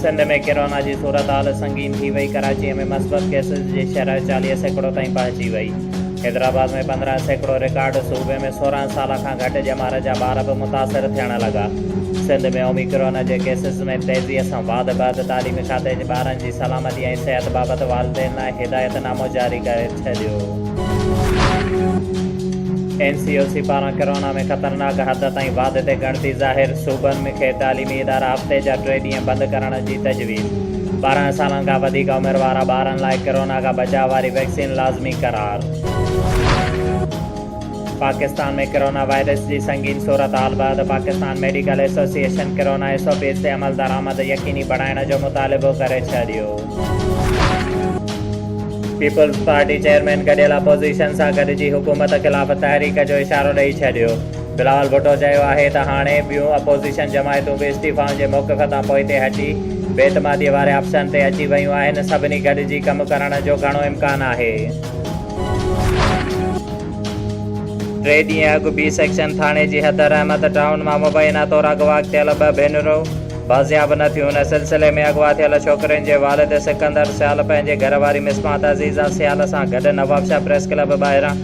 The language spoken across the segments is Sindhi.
سنڌ ۾ ڪرونا جي صورتحال سنگين ٿي وئي، ڪراچي ۾ مثبت ڪيسز جي شرح چاليهه سيڪڙو تائين پهچي وئي، حيدرآباد ۾ پندرهن سيڪڙو رڪارڊ، صوبي ۾ سورهن سال کان گهٽ ڄمار جا ٻار به متاثر ٿيڻ لڳا، سنڌ ۾ اوميڪرون جي ڪيسز ۾ تيزي سان واڌ بعد تعليمي کاتي ٻارن جي سلامتي ۽ صحت بابت والدين لاء هدايت نامو جاري ڪري ڇڏيو. اين سي او سي پاران ڪرونا ۾ خطرناڪ حد تائين واڌ تي ڳڻتي ظاهر، صوبن ۾ کي تعليمي ادارا هفتي جا ٽي ڏينهن بند ڪرڻ جي تجويز، ٻارهن سالن کان وڌيڪ عمر وارا ٻارن لاء ڪرونا کان بچاء واري ويڪسين لازمي قرار. پاڪستان ۾ ڪرونا وائرس جي سنگين صورتحال بعد Pakistan medical association corona S O Ps تي عملدرآمد يقيني بڻائڻ جو مطالبو ڪري ڇڏيو. پيپلز پارٽي چيئرمين گڏيل اپوزيشن سان گڏجي حڪومت خلاف تحريڪ جو اشارو ڏئي ڇڏيو. بلاول ڀٽو چيو آهي ته هاڻي ٻيون اپوزيشن جماعتون به استعيفائن جي موقف تان پوئتي هٽي بي اعتمادي واري آپشن تي اچي ويون آهن، سڀني گڏجي ڪم ڪرڻ جو گهڻو امڪان آهي. ٽي ڏينهن اڳ بي سيڪشن ٿاڻي جي حيدر احمد ٽائون مان مبينا طور اغوا ڪيل ٻه ڀينرون، بازياب نه ٿيون ان سلسلي ۾ اغوا ٿيل ڇوڪرين جي والد سڪندر سيال پنهنجي گهر واري مصباح عزيزه سيال سان گڏ نوابشاهه پريس ڪلب ٻاهران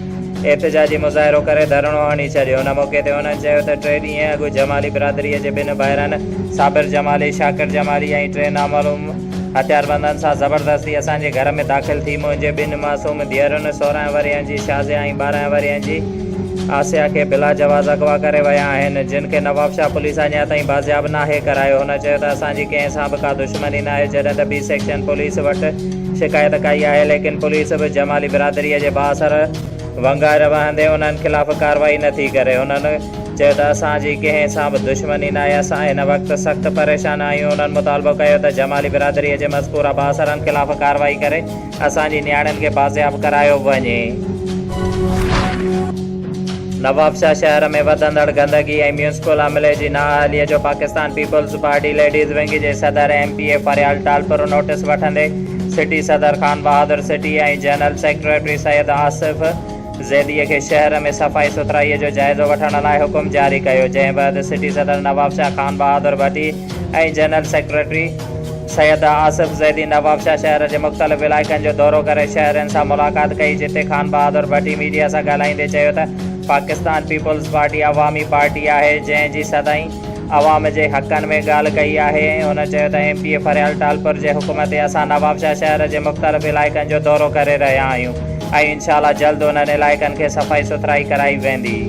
احتجاجي مظاهرو ڪري ڌرڻو هڻي ڇڏيو ان موقعي تي هنن چيو ته ٽي ڏينهن اڳ جمالي برادري جي ٻن ڀائرن صابر جمالي شاڪر جمالي ۽ ٽي نامعلوم هٿياربندن سان زبردستي اسان جي گهر ۾ داخل ٿي منهنجي ٻن معصوم ڌيئرن سورهن ورهين جي شازيا ۽ ٻارهن ورهين جي آسيا کي بلا جواز اغوا ڪري ويا آهن، جن کي نوابشاهه پوليس اڃا تائين بازياب ناهي ڪرايو. هن چيو ته اسان جي ڪنهن سان به ڪا دشمني ناهي، جڏهن ته بي سيڪشن پوليس وٽ شڪايت ڪئي آهي، ليڪن پوليس به جمالي برادري جي بااثر ونگائر وهندي انهن خلاف ڪارروائي نٿي ڪري. هنن چيو ته اسان جي ڪنهن سان به دشمني ناهي، اسان هن وقت سخت پريشان آهيون. هنن مطالبو ڪيو ته جمالي برادري جي مذڪوره بااثرن خلاف ڪارروائي ڪري. اسان جي نياڻين کي بازياب ڪرايو وڃي. نوابشاهه شهر ۾ وڌندڙ گندگي ۽ ميونسپل عملي جي نااهلي جو Pakistan peoples party ladies wing جي صدر M P A Faryal Talpur notice وٺندي سٽي صدر Khan Bahadur city ۽ general secretary Syed Asif زيديء کي شهر ۾ صفائي سٿرائيء جو جائزو وٺڻ لاء حڪم جاري ڪيو، جنهن بعد سٽي صدر نوابشاهه خان بهادر ڀٽي ۽ جنرل سيڪريٽري سيد آصف زيدي نوابشاهه شهر جي مختلف علائقن جو دورو ڪري شهرين سان ملاقات ڪئي، جتي خان بهادر ڀٽي ميڊيا سان ڳالهائيندي چيو ته پاڪستان پيپلز پارٽي عوامي پارٽي آهي، جنهن جي سدائين. عوام جي حقن ۾ ڳالهه ڪئي آهي ۽ هن چيو ته M P A Faryal Talpur جي حڪم تي اسان نوابشاهه شهر جي مختلف علائقن جو دورو ڪري رهيا آهيون ۽ انشاء الله جلد انهن علائقن کي صفائي سٿرائي ڪرائي ويندي.